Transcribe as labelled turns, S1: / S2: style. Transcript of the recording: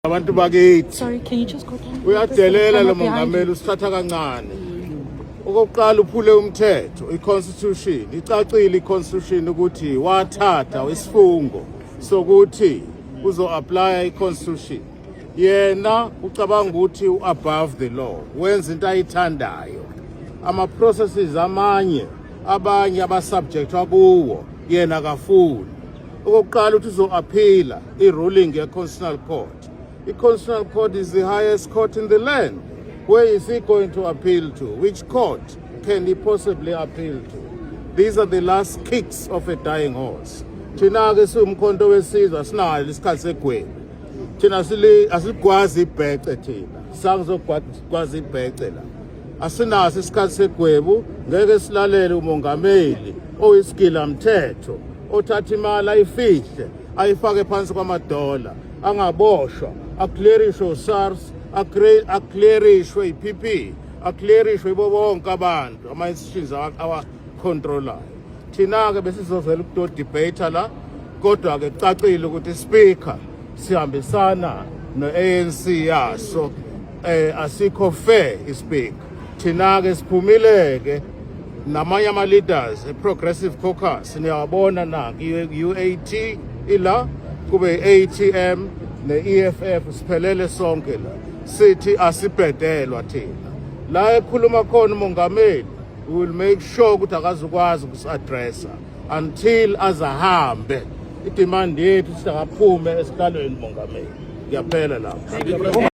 S1: abantu bakithi
S2: uyadelela lo
S1: mongameli usithatha kancane okokuqala uphule umthetho i-constitution icacile i-constitution ukuthi wathatha isifungo sokuthi uzo-aplaya i-constitution yena ucabanga ukuthi u-above the law wenza into ayithandayo ama-processes amanye abanye abasubjectwa kuwo yena kafuni okokuqala ukuthi uzo-aphila i-ruling ye-constitutional court i-constitutional court is the highest court in the land where is he going to appeal to which court can he possibly appeal to these are the last kicks of a dying horse thina-ke siwumkhonto wesizwe asinayo isikhathi segwebu thina asilukwazi ibhece thina sangizokwazi ibhece la Asinaso isikhathi segwebu, ngeke silalele umongameli oyisigila mthetho othatha imali ayifihle ayifake phansi kwamadola angaboshwa aclearishwe uSARS aclearishwe iPP aclearishwe ibo bonke abantu ama institutions awa controller thina ke besizovela ukuto debate la kodwa ke cacile ukuthi speaker sihambisana no ANC yaso eh asikho fair ispeak thina ke siphumile ke namanye ama leaders eprogressive caucus niyabona na UAT ila kube ATM ne-EFF siphelele sonke la sithi asibhedelwa thina la ekhuluma khona umongameli we will make sure ukuthi akazukwazi ukusi-addressa until azahambe idemand yethu sithi akaphume esikhalweni mongameli ngiyaphela lapho